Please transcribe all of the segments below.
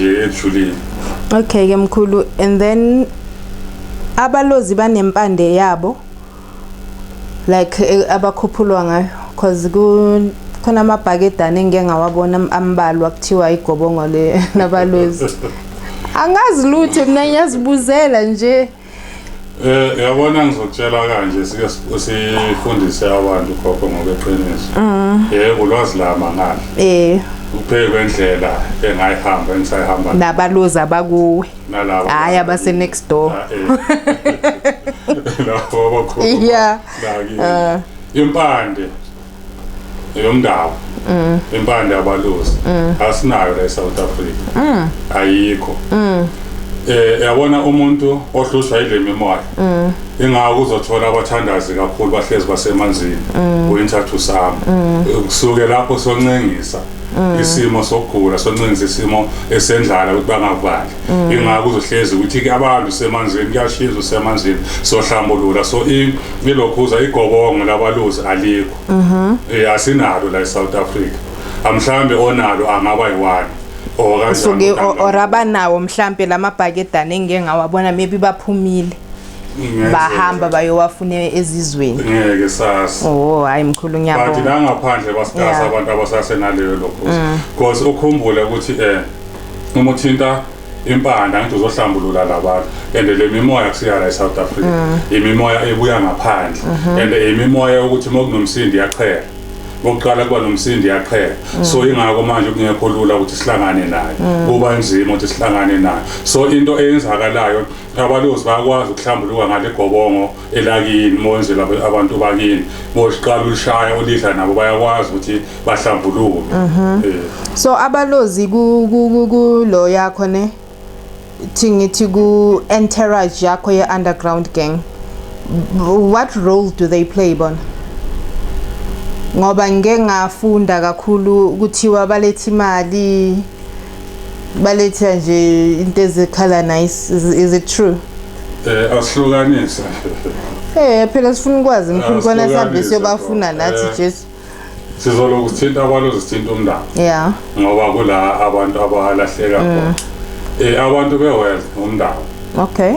nje ejulile okay ke mkhulu and then abalozi banempande yabo like eh, abakhuphulwa ngayo cause ku khona amabhakedane engike ngawabona ambalwa kuthiwa igobongo le nabalozi angazi lutho mina ngiyazibuzela nje Eh yabona ngizokutshela kanje sike sifundise abantu khokho ngokweqiniso. Mm. Yebo ulwazi lama ngani. Eh uphekwe indlela engayihamba engisayihamba nabaluza abakuwe nalabo hayi abase next door ah, eh. lapho abakhulu yeah ah. impande yomndawo mm. impande abalusi mm. asinayo la eSouth Africa mm. ayikho mm. eh yabona umuntu ohlushwa ile mimoya mm. ingako uzothola abathandazi kakhulu bahlezi basemanzini mm. winter to summer mm. kusuke lapho soncengisa mm. isimo sokugula soncengisa isimo esendlala ukuthi bangakubandla mm. ingakho uzohlezi ukuthi ke abantu semanzini kuyashiza usemanzini sohlambulula so ilokhuza igobongo labaluzi alikho mhm eh, asinalo la eSouth Africa amhlambe onalo angaba yiwani osuke oraba nawo mhlambe lamabhakedane engike ngawabona maybe baphumile bahamba bayowafune ezizweni ngeke sasa oh hayi mkhulu ngiyabonga bathi la ngaphandle basigasa abantu abasasenaleyo lokho mm. because ukhumbule ukuthi eh uma uthinta impanda ngithi uzohlambulula labantu and le mimoya kusiya la eSouth Africa mm. imimoya ebuya ngaphandle mm-hmm. and imimoya ukuthi uma kunomsindi yaqhela bokuqala kuba nomsindi yaqhela mm. so ingakho manje kungekho lula ukuthi sihlangane naye mm. kuba nzima ukuthi sihlangane naye so into eyenzakalayo abalozi bayakwazi ukuhlambuluka ngale gobongo elakini monzela abantu bakini boziqala ushaya olidla nabo bayakwazi ukuthi bahlambuluke mhm. eh. so abalozi kulo yakho ne thi ngithi ku entourage yakho ye underground gang what role do they play bona ngoba ngeke ngafunda kakhulu kuthiwa balethe imali baletha nje into ezikhala nice is, is it true eh asihlukanise eh phela sifuna ukwazi mkhulu kona sihambe siyobafuna nathi eh, Jesu sizoloku sithinta abantu sithinta umndaba yeah ngoba kula abantu abalahleka khona mm. eh abantu bewealth umndaba okay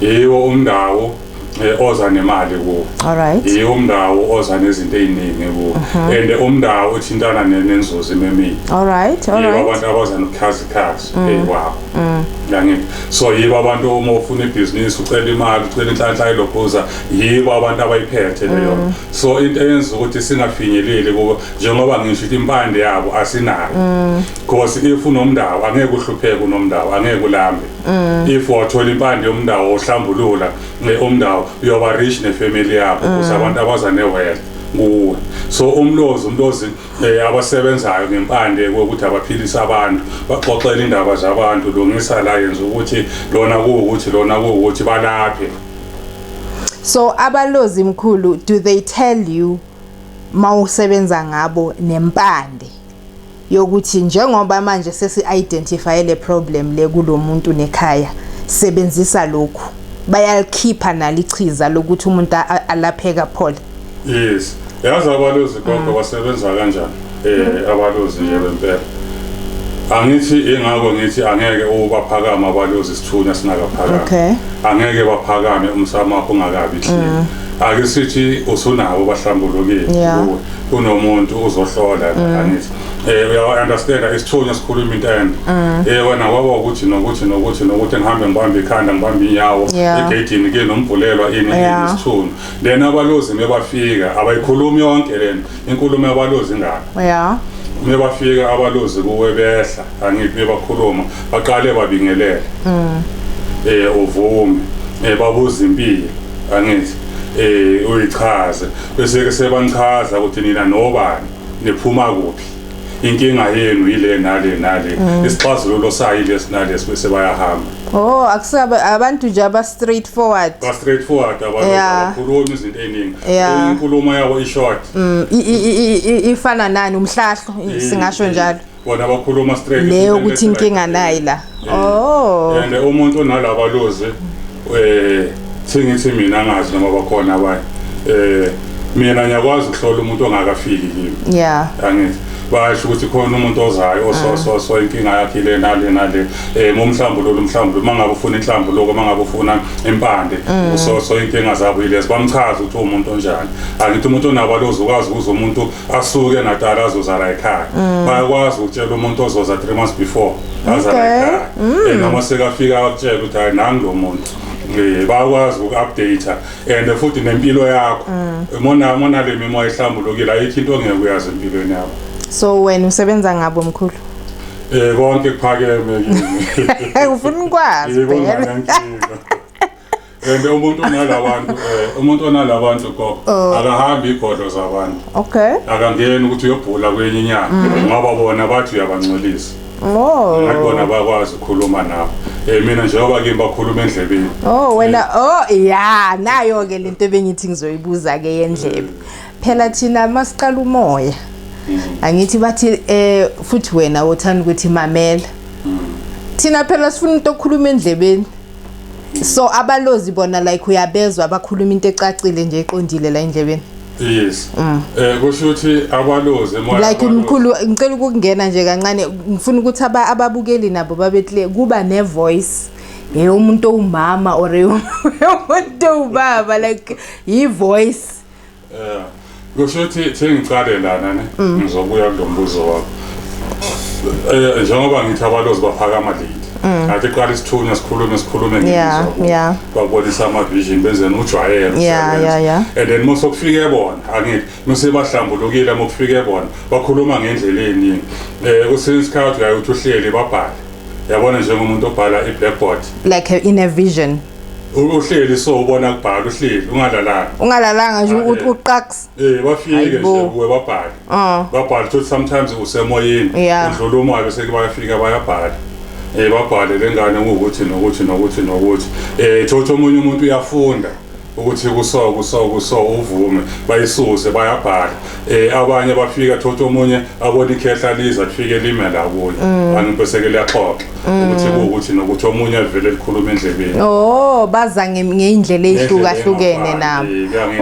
yiwo umndawo eh, oza nemali kuwo alright yiwo umndawo oza nezinto eziningi kuwo mhm. and umndawo uthintana nenzuzo imemini alright alright yiwo abantu abaza nokuchaza ikhazi mm. eyiwabo mm. yangithi so yibo abantu uma ufuna ibhizinisi ucela imali ucela inhlanhla ilokhuza yibo abantu abayiphethe leyo mm. so into eyenza ukuthi singafinyeleli kubo njengoba ngisho ukuthi impande yabo asinayo because if unomndawo angeke uhlupheke unomndawo angeke ulambe Mm. if wathola impande yomndawo ohlambulula eh, umndawo uyoba rich nefamily yakho mm. kusabantu abaza newele kuwe so umlozi umuntu ozi eh, abasebenzayo ngempande ukuthi abaphilisa abantu baxoxele indaba zabantu lungisa la yenza ukuthi lona kuwukuthi lona kuwukuthi balaphe so abalozi mkhulu do they tell you mawusebenza ngabo nempande yokuthi njengoba manje sesi-identifye le problem le kulo muntu nekhaya sebenzisa lokhu bayalikhipha nalichiza lokuthi umuntu alapheka phole yes yazi abalozi konke mm. basebenza kanjani um abalozi nje bempela angithi ingakho ngithi angeke ubaphakame abalozi sithunya singakaphakami angeke baphakame umsamakho ungakabi hle mm. ake sithi usunabo bahlambulukile kuwe kunomuntu uzohlola angithi eh uyawa understand isithunywa sikhuluma into and mm. eh wena kwaba ukuthi nokuthi nokuthi nokuthi ngihambe ngibambe ikhanda ngibambe inyawo egedini ke nombhulelwa ini isithunywa then abalozi mebafika abayikhulumi yonke lena inkulumo yabalozi ngakho yeah mebafika abalozi kuwe behla angithi mebakhuluma baqale babingelele mm. eh uvume eh babuza impilo angithi eh uyichaze bese-ke sebanichaza ukuthi nina nobani niphuma kuphi inkinga yenu yile nale nale mm. isixazululo sayo ilesi nalesi bese bayahamba oh akusabe abantu nje aba straight forward ba straight forward abakhulumi izinto eziningi inkulumo yabo ishort mm, ifana nani umhlahlo singasho njalo bona bakhuluma straight leyo ukuthi inkinga nayi la eh, oh and umuntu onalaba lozi eh singithi mina ngazi noma bakhona abanye eh mina ngiyakwazi ukuhlola umuntu ongakafiki kimi yeah angithi basho ukuthi khona umuntu ozayo osososo ah. inkinga yakhe le nale nale um eh, mumhlambululo umhlambululo uma ngabe ufuna inhlambuluko uma ngabe ufuna impande mm. usoso inkinga zabo yilezi bamchaza ukuthi uwumuntu onjani angithi umuntu onabo alozukwazi ukuza umuntu asuke natala azoza la ekhaya mm. bayakwazi ukutshela umuntu ozoza three months before aza la ekhaya mm. and noma sekafika akutshela ukuthi hayi nangi lo muntu eh, bayakwazi uku-updata and futhi nempilo yakho mm. mona mona le mimoya ihlambulukile ayikho into ongeke uyazi empilweni yakho so wena usebenza ngabo mkhulu eh konke kuphakeme kimi ufuna ukwazi phela and umuntu onalabantu eh, umuntu onalabantu gogo oh. akahambi igodlo zabantu okay akangeni ukuthi uyobhula kwenye inyanga mm. ngoba bona bathi uyabangcolisa Oh. Ngakubona bakwazi ukukhuluma nabo. Eh mina njengoba ke bakhuluma endlebeni. Oh wena eh. oh yeah nayo ke lento bengithi ngizoyibuza ke yendlebe. Phela thina masiqala umoya. Mm. Angithi bathi eh futhi wena uthanda ukuthi mamela. Mm. Thina phela sifuna into okhuluma endlebeni. so abalozi bona like uyabezwa abakhuluma into ecacile nje eqondile la endlebeni yes mm. eh kusho ukuthi abalozi emoya like umkhulu ngicela ukungena nje kancane ngifuna ukuthi ababukeli nabo babe clear kuba ne voice ye umuntu owumama or umuntu owubaba like yi voice Eh kusho ukuthi sengiqale lana ne mm. ngizobuya kulombuzo wakho. Eh njengoba ngithi abalozi baphakama late. Mm. Ngathi qala isithunywa sikhulume sikhulume ngizwa. Yeah. Babonisa ama vision benzeni ujwayelo. Yeah yeah yeah. And then mose kufike bona angithi mase bahlambulukile mokufike bona bakhuluma ngendlela eningi. Eh kusince isikhathi uyayothi uhleli babhale. Yabona njengomuntu obhala i blackboard. Like in a vision. uhleli so ubona kubhala uhleli ungalalanga ungalalanga nje ah, eh. uqax eh bafike nje kuwe babhala ah. babhala ukuthi sometimes usemoyeni udlula umoya bese bayafika bayabhala eh babhale lengane ukuthi nokuthi nokuthi nokuthi eh thothi omunye umuntu uyafunda ukuthi kuso kuso kuso uvume bayisuse bayabhala eh abanye bafika thothi omunye abona ikhehla liza lifike lime la kuye mm. anibeseke liyaxoxa mm. ukuthi ukuthi nokuthi omunye avele likhuluma endlebeni oh baza ngeindlela ezihlukahlukene nabo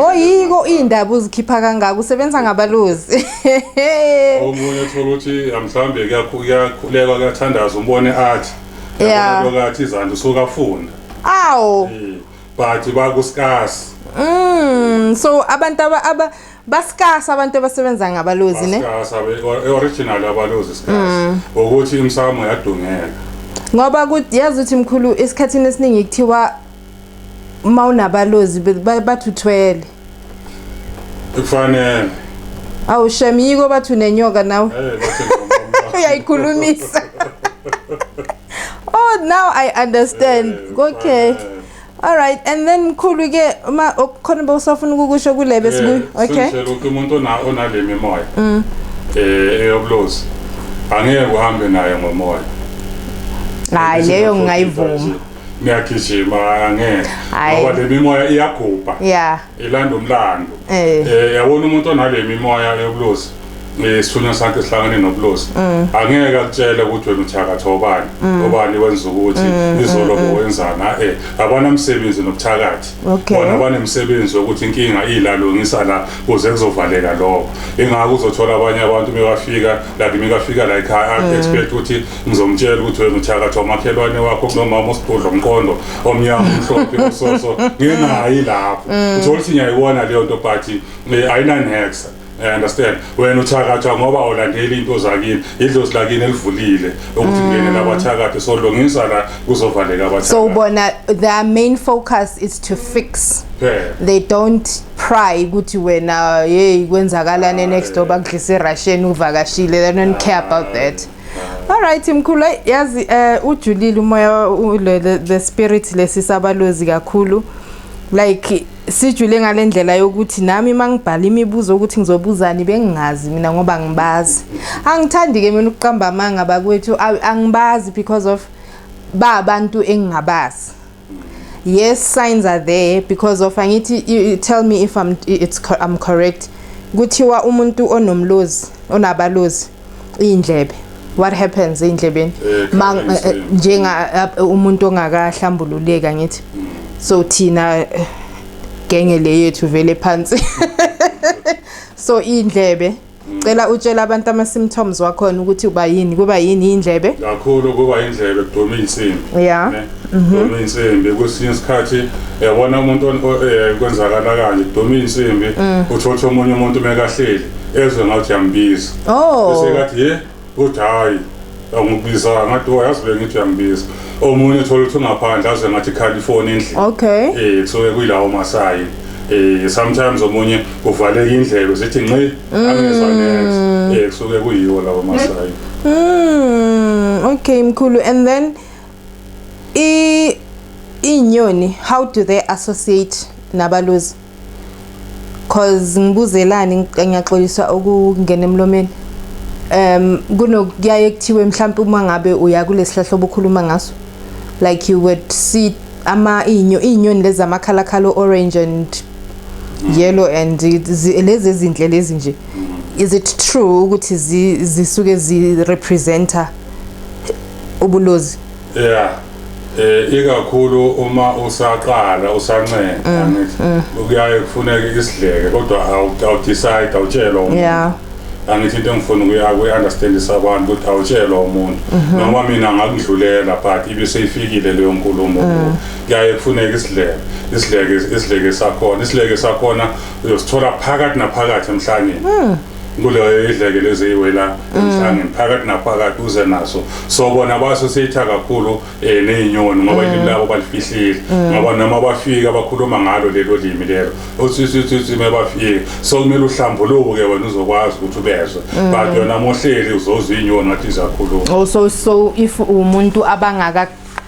oyiko oh, indaba uzikhipha kangaka usebenza ngabaluzi omunye uthola ukuthi mhlambe kuyakhuleka kuyathandaza umbone athi yabona lokathi izandla usuka funda awu eh, but bakusikasi mm so abantu aba basikasa abantu abasebenza ngabalozi ne Basikasa, be- original abalozi sikasa Mm. ukuthi imsamo yadungeka ngoba kuthi yazi ukuthi mkhulu esikhathini esiningi kuthiwa uma unabalozi be- ba- bathi uthwele kufanele awu shem yiko bathi unenyoka nawe Eh, bathi ngomama. uyayikhulumisa oh now i understand Eh, okay kufanele. All right and then mkhulu ke uma khona bosafuna ukukusho kulebe eh, sibuye okay Sengitshela ukuthi umuntu ona onale mimoya mm. eh eyobulozi angeke uhambe naye ngomoya Hayi leyo ngingayivuma Ngiyagijima angeke ngoba le mimoya iyagubha Yeah ilanda umlando Eh. eh yabona umuntu onale mimoya yobulozi eh, isithunywa sakhe sihlangene nobulozi Mm. angeke akutshele ukuthi wena uthakatha obani obani wenza ukuthi Mm, izolo bowenzani eh abanamsebenzi nobuthakathi Okay. bona banemsebenzi wokuthi inkinga ilalungisa la kuze kuzovaleka lokho ingakho uzothola abanye abantu mebafika like mekafika la ekhaya Mm. expect ukuthi ngizomtshela ukuthi wena uthakathi wamakhelwane wakho kunomama osigudla umqondo omnyama umhlophe usoso ngingayi lapho mm. uthola ukuthi ngiyayiwona leyo nto but eh, ayinanhexa I understand wena uthakatha ngoba awulandeli into zakini idlozi lakini elivulile ukuthi mm. ngene labathakathi so lungisa la kuzovaleka abathakathi so ubona their main focus is to fix yeah. they don't pry ukuthi wena hey kwenzakalane ah, next door bakudlisa iRussian uvakashile they don't care about that Alright mkhulu yazi eh ujulile umoya ulele the spirit lesisabalozi kakhulu like sijule ngalendlela yokuthi nami mangibhala imibuzo ukuthi ngizobuzani bengingazi mina ngoba ngibazi angithandi ke mina ukuqamba amanga bakwethu angibazi because of ba abantu engingabazi yes signs are there because of angithi you tell me if I'm, it's, I'm correct kuthiwa umuntu onomlozi onabalozi iy'ndlebe what happens ey'ndlebeni eh, eh, eh, njenga umuntu ongakahlambululeka ngithi mm. so thina genge le yethu vele phansi so iy'ndlebe Cela utshela abantu ama symptoms wakhona ukuthi uba yini kuba yini indlebe. Kakhulu kuba indlebe kuduma insimbi. Yeah. Mhm. Kuduma insimbi kwesinye isikhathi yabona umuntu eh, kwenzakala kanje kuduma insimbi mm. uthotha omunye umuntu mekahleli ezwe ngathi yambiza. Oh. Bese kathi ye ukuthi hhayi angikubizanga ngathi oh yazi bengithi uyangibiza omunye thola ukuthi ungaphandle aze ngathi khali ifoni endlini okay eh kusuke kuyilawo masayi eh sometimes omunye uvaleka indlebe zithi nci mm. angezwa next eh kusuke kuyiwo lawo masayi mm okay mkhulu and then i inyoni how do they associate nabaluzi cause ngibuzelani ngiyaxolisa ukungena emlomeni um kunokuyaye kuthiwe mhlawumbe uma ngabe uya kulesihlahla obukhuluma ngaso like you would see ama inyo inyoni lezi amakhalakhala orange and yellow and lezi ezinhle lezi nje is it true ukuthi zisuke zi representer ubulozi yeah eh ikakhulu uma usaqala usancenga mm, ngithi mm. kuyaye kufuneke isidleke kodwa awudecide awutshelwa umuntu yeah angithi into engifuna ukuya kuyi-understandisa abantu ukuthi awutshelwa umuntu mhm. noma mina ngakudlulela but ibe seyifikile leyo nkulumo mm. kuyaye kufuneka isidleke isidleke isidleke sakhona isidleke sakhona uyosithola phakathi naphakathi emhlangeni kuleyo idlekelo eziyiwela mm. emhlangeni phakathi naphakathi uze naso so bona baso sitha kakhulu um eh, ney'nyoni ngoba mm. ilimi labo balifihlile mm. ngoba noma bafika bakhuluma ngalo lelo limi lelo othithithithi uma bafika so kumele uhlambuluke wena uzokwazi ukuthi ubezwe but yona mohleli uzozwa iy'nyoni ngathi ziyakhuluma oh, so so if umuntu abangaka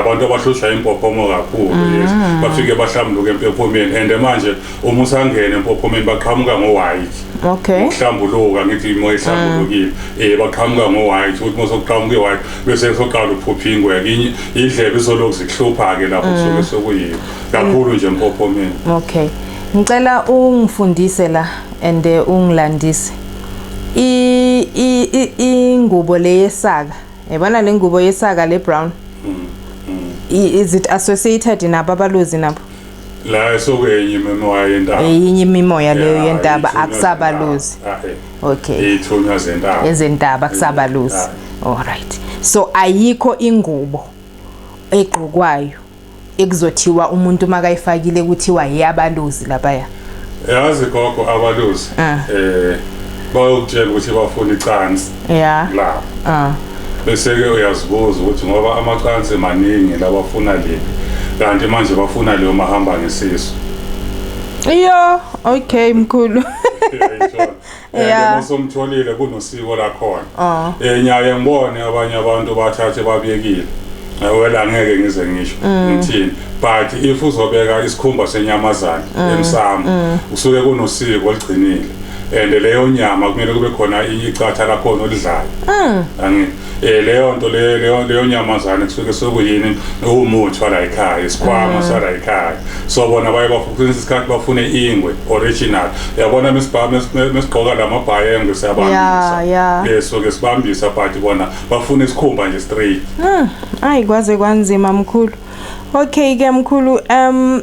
abantu abahlushwa impophomo kakhulu mm. yes bafike bahlambuluke empophomeni and manje uma usangena empophomeni baqhamuka ngo white okay uhlambuluka ngithi imoya ihlambulukile mm. eh baqhamuka ngo white uthi mosokuqhamuka i white bese soqala ukuphupha ingwe nginye indlebe isolokhu zikuhlupha ke lapho mm. soke sokuyiyo kakhulu nje empophomeni okay ngicela ungifundise la and eh, ungilandise i ingubo leyesaka yabona le ngubo yesaka le brown is it associated nabo abaluzi nabo la esokenye imimoya yentaba eyinye imimoya leyo Yeah, yentaba ithunywa akusabaluzi zentaba. Ah, eh. okay ithunywa zentaba ezentaba akusabaluzi Ah. alright so ayikho ingubo egqokwayo ekuzothiwa umuntu makayifakile kuthiwa yeyabaluzi lapaya yazi gogo abaluzi ah. eh bayokutshela ukuthi bafuna icansi yeah la ah bese ke uyazibuza ukuthi ngoba amacansi maningi labafuna le kanti manje bafuna leyo mahamba ngesisu iyo okay mkhulu Yeah. Usomtholile kunosiko lakhona. Oh. Eh nyaye ngibone abanye abantu bathathe babiyekile. Wela ngeke ngize ngisho mm. ngithini but if uzobeka isikhumba senyamazana mm. emsamo mm. usuke kunosiko oligcinile and leyo nyama kumele kube khona icatha lakhona olidlayo angithi eh leyo nto leyo leyo leyo nyamazane kusuke sokuyini umuthi wala ekhaya isikhwama mm. sala ekhaya so bona baye bafuna isikhathi bafune ingwe original yabona mesibhama mesigqoka lamabhaye engwe siyabambisa yeah, yeah. so ke sibambisa but bona bafuna isikhumba nje straight mm. ayi kwaze kwanzima mkhulu okay ke mkhulu um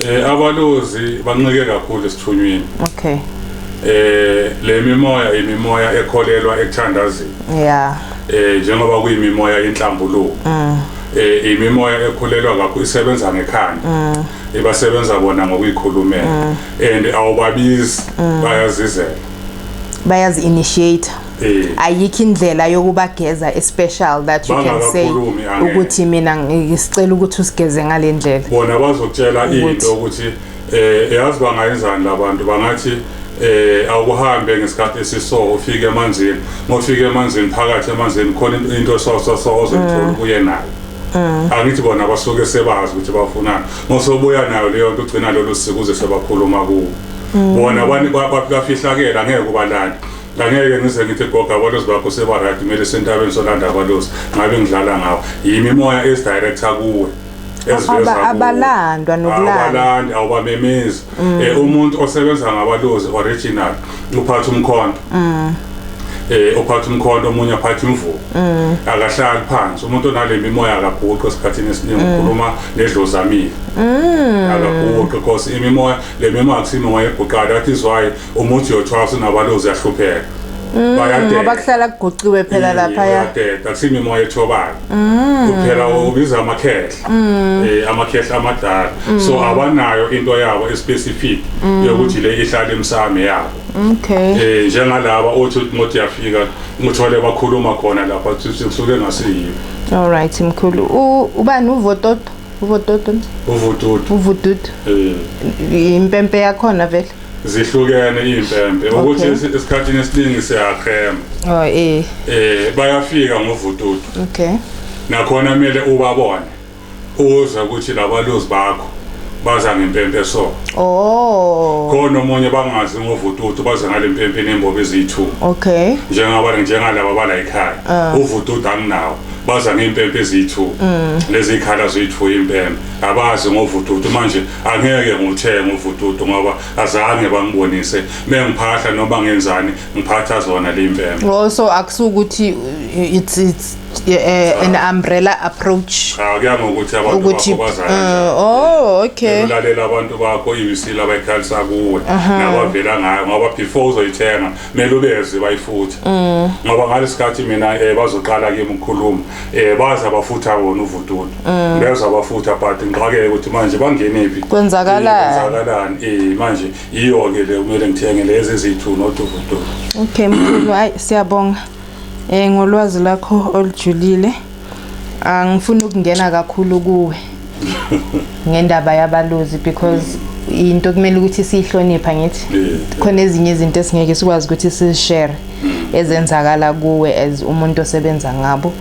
Eh abalozi banqike kakhulu esithunyweni. Okay. Eh le mimoya imimoya ekholelwa ekuthandazeni. Yeah. Eh njengoba kuyimimoya yenhlambuluko. Mm. Eh imimoya ekhulelwa kakhulu isebenza ngekhanda. Mm. Ibasebenza bona ngokuyikhulumela. Mm. And awubabizi mm. bayazizela. Bayazi initiate. Eh. ayikho indlela yokubageza especial that you can say ukuthi mina ngisicela ukuthi usigeze ngale ndlela bona bazokutshela into ukuthi eh yazi bangayenzani labantu bangathi eh awuhambe ngesikhathi esiso ufike emanzini ngofike emanzini phakathi emanzini khona into so so so ozothola mm. kuye nayo mm. angithi bona basuke sebazi ukuthi bafunani ngosobuya nayo leyo nto ugcina lolu sikuze sebakhuluma kuwo mm. bona bafihlakela ngeke ubalanda ngangeke ngize ngithi goga abalozi bakho sebarayt kumele sentabeni solanda abalozi ngabe ngidlala ngawo yimi imoya esidirector kuwe abalandwa nokulandaabalandi awubamemezi um mm. umuntu osebenza ngabalozi original uphatha umkhondo um eh ophatha umkhondo omunye aphatha imvubu mm. akahlali phansi umuntu onale mimoya akaguqi esikhathini esiningi mm. ukhuluma nedlozamile mm. akaguqi because imimoya le mimoya akusimo wayeguqala that is why uma uthi yothwasa nabalozi yahlupheka mm, bayadeda ngoba kuhlala kuguqiwe phela mm, lapha ya bayadeda kusimi moya ethobana mm. kuphela ubiza amakhehla eh amakhehla amadala so abanayo into yabo especific yokuthi le ihlala emsame yabo okay eh njengalaba othi ngothi yafika ngithole bakhuluma khona lapha kusuke ngasiyiyo all right mkhulu ubani uvototo uvototo uvototo uvototo eh impempe yakhona vele zihlukene iy'mpempe ukuthi Okay. esi- esikhathini esiningi siyaqhema Oh eh. um bayafika ngovututu Okay. nakhona kumele ubabone uze ukuthi labaluzi bakho baza ngempempe so Oh. khona omunye bangazi ngovututu baze ngale mpempe nembobi eziyi-two Okay. njengaba njengalaba bala ekhaya uvududu anginawo baza ngey'mpempe eziyi-two leziy'khala ziyi-two impempe abazi ngovududu manje angeke nguthenge uvududu ngoba azange bangibonise bengiphahla noma ngenzani ngiphatha zona limbembe oh so akusukuthi uh, it's it's uh, an ah. umbrella approach cha ah, kuya ngokuthi abantu ukuthi uh, oh okay ulalela abantu bakho iwisile abayikhalisa kuwe nabavela ngayo ngoba before uzoyithenga kumele ubeze bayifuthe mm. ngoba ngalesikhathi mina eh bazoqala kimi ukukhuluma eh baza bafutha wona uvududu mm. beza bafutha but ngiqhakeke ukuthi manje bangenephi kwenzakalani eh, kwenzakalani eh manje iyo ke le kumele ngithenge lezi ezithu noduvududu okay mkhulu hayi siyabonga eh ngolwazi lakho olujulile angifuni ukungena kakhulu kuwe ngendaba yabalozi because into kumele ukuthi siyihlonipha ngithi khona ezinye izinto esingeke sikwazi ukuthi sizishare ezenzakala kuwe as umuntu osebenza ngabo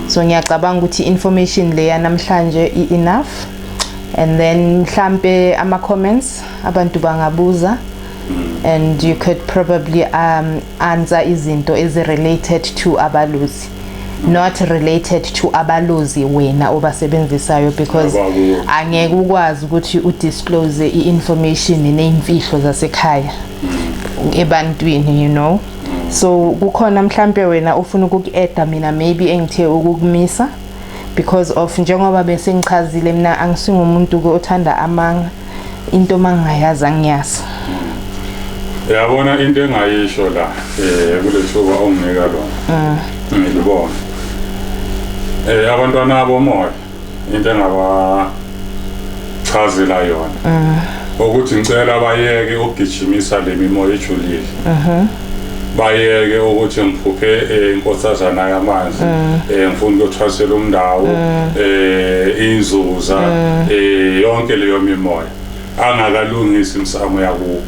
so ngiyacabanga ukuthi information leya namhlanje i-enough and then mhlampe ama comments abantu bangabuza and you could probably um, answer izinto ezi related to abalusi not related to abaluzi wena obasebenzisayo because angeke ukwazi ukuthi udisclose i-information neyimfihlo zasekhaya mm. ebantwini you know so kukhona mhlampe wena ufuna ukuku-eda mina maybe engithe ukukumisa because of njengoba bese ngichazile mina angisingumuntu ke othanda amanga into mangayazi angiyazi yabona into engayisho la eh kulethuba onginika lona mm. ngilibona eh abantwana abomoya into engaba chazela yona mm. ukuthi ngicela bayeke ukugijimisa lemimoya ejulile mhm. bayeke ukuthi ngiphuphe eh, inkosazana yamanzi mm. eh, ngifuna ukuyothwasela umndawo mm. eh, inzuza mm. yonke leyo mimoya angakalungisi imsamo yakubo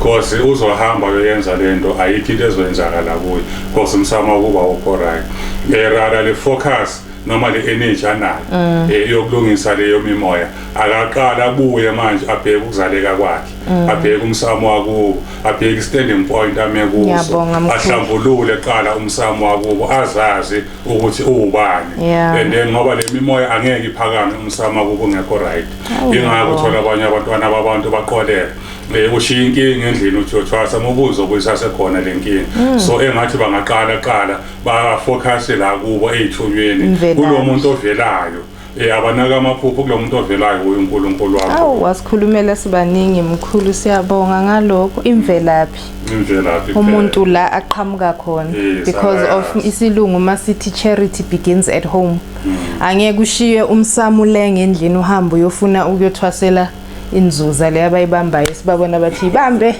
cause uzohamba yoyenza lento ayikho into ezoyenzakala kuye cause umsamo wakuba ukho right erara le focus noma le energy anayo mm. eh, yokulungisa leyo mimoya akaqala abuye manje abheke ukuzaleka kwakhe Mm. abheke umsamo wakubo abheke standing point ame kuso ahlambulule qala umsamo wakubo azazi ukuthi uwubani and then ngoba lemimoya angeke iphakame umsamo wakubo ngekho right oh, ingakho uthola abanye abantwana babantu baqoleka eh, ushiya inkinga endlini uthi uthwasa mubuzo okuyisasekhona le nkinga mm. so engathi bangaqala qala bafocus la kubo ey'thunyweni kulo muntu ovelayo Eh abanaka amaphupho kulo muntu ovelayo kuyo uNkulunkulu wakho. Awu wasikhulumela sibaningi mkhulu siyabonga ngalokho imvelaphi. Imvelaphi. Umuntu la aqhamuka khona eh, because of isilungu masithi charity begins at home. Hmm. Angeke ushiye umsamulenge endlini uhambe uyofuna ukuyothwasela inzuza le abayibambayo sibabona bathi ibambe.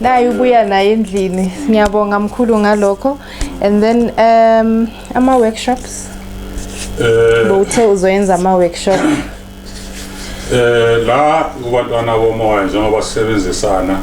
Nayi ubuya naye endlini. Ngiyabonga mkhulu ngalokho and then um ama workshops eh bowuthe uzoyenza ama workshop eh la kubantwana bomoya njengoba sisebenzisana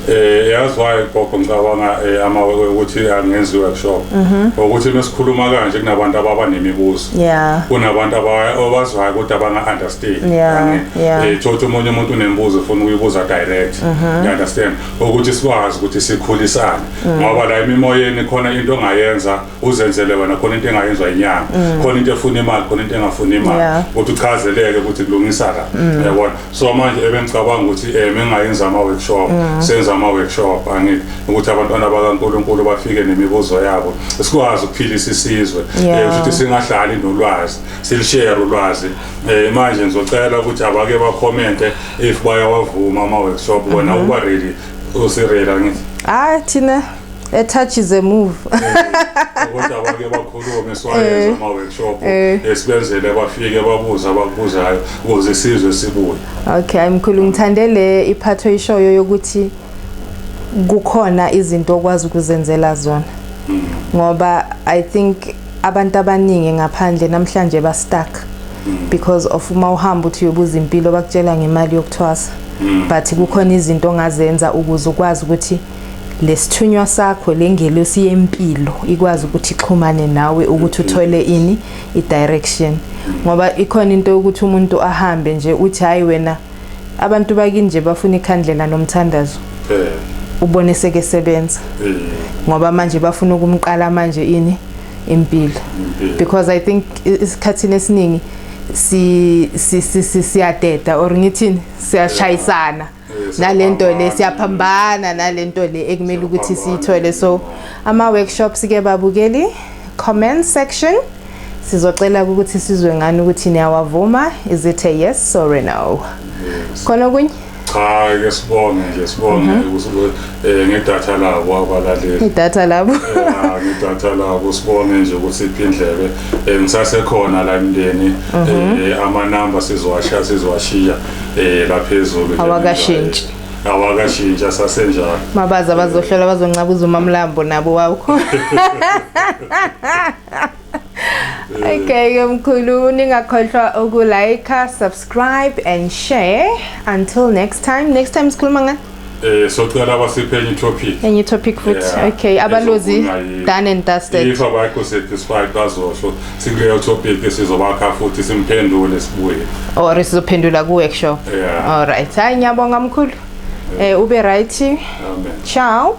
eh yazi why gogo ngicabanga eh, ama ukuthi angenzi workshop mhm. ukuthi mesikhuluma kanje kunabantu ababa nemibuzo yeah kunabantu abazwayo kodwa abanga understand yeah yeah eh thothi umunye umuntu unemibuzo ufuna uyibuza direct mhm. you understand ukuthi sikwazi ukuthi sikhulisane mm. ngoba la imimoyeni khona into ongayenza uzenzele wena khona into engayenzwa inyanga mm. khona into efuna imali khona into engafuni imali ukuthi uchazeleke ukuthi kulungisa la mm. yabona so manje ebengicabanga ukuthi eh mengayenza ama workshop senza ama workshop angithi ukuthi abantwana bakaNkuluNkulu bafike nemibuzo yabo sikwazi ukuphilisa isizwe eh, ukuthi singahlali nolwazi silishare ulwazi Eh manje ngizocela ukuthi abake ba comment if bayawavuma ama workshop wena mhm. uba ready usirela ngithi. Hayi thina a touch is a move ukuthi abake bakhulume siwayenze ama workshop esibenzele bafike babuza abakubuzayo ukuze isizwe sibuye okay mkhulu ngithande le iphatho ishoyo yokuthi kukhona izinto okwazi ukuzenzela zona ngoba i think abantu abaningi ngaphandle namhlanje ba stuck mm. because of uma uhamba uthi uyobuza impilo bakutshela ngemali yokuthwasa mm. but kukhona izinto ongazenza ukuze ukwazi ukuthi lesithunywa sakho lengelosi yempilo ikwazi ukuthi ixhumane nawe ukuthi uthole ini i direction ngoba ikhona into yokuthi umuntu ahambe nje uthi hayi wena mm. abantu bakini nje bafuna ikhandlela nomthandazo eh ubone seke sebenza eh. ngoba manje bafuna ukumqala manje ini impilo because i think isikhathini esiningi si siyadeda or ngithini siyashayisana nalento le siyaphambana nalento le ekumele ukuthi siyithole so ama workshops ke babukeli comment section sizocela ukuthi sizwe ngani ukuthi niyawavuma is it a yes or a no khona okunye cha ke sibonge nje sibonge mhm. ukuthi eh, ngedatha labo abalaleli idatha labo eh, ngedatha labo sibonge nje ukuthi iphindlebe eh, ngisasekhona la emndeni mhm. ama number sizowashiya sizowashiya laphezulu awakashintshi awakashintsha sasenjalo mabaza bazohlola bazoncabuza umamlambo nabo wawukho Okay, ke mkhulu ningakhohlwa uku like, subscribe and share. Until next time. Next time sikhuluma ngani? Eh socela abasiphe enye topic. Enye topic futhi. Yeah. Okay, abalozi Ezokuna- done and dusted. If abakho satisfied bazosho sikuleyo topic sizobakha futhi simphendule sibuye. Or sizophendula kuwe kusho. Yeah. All right. Hayi ngiyabonga mkhulu. Eh ube right. Amen. Ciao.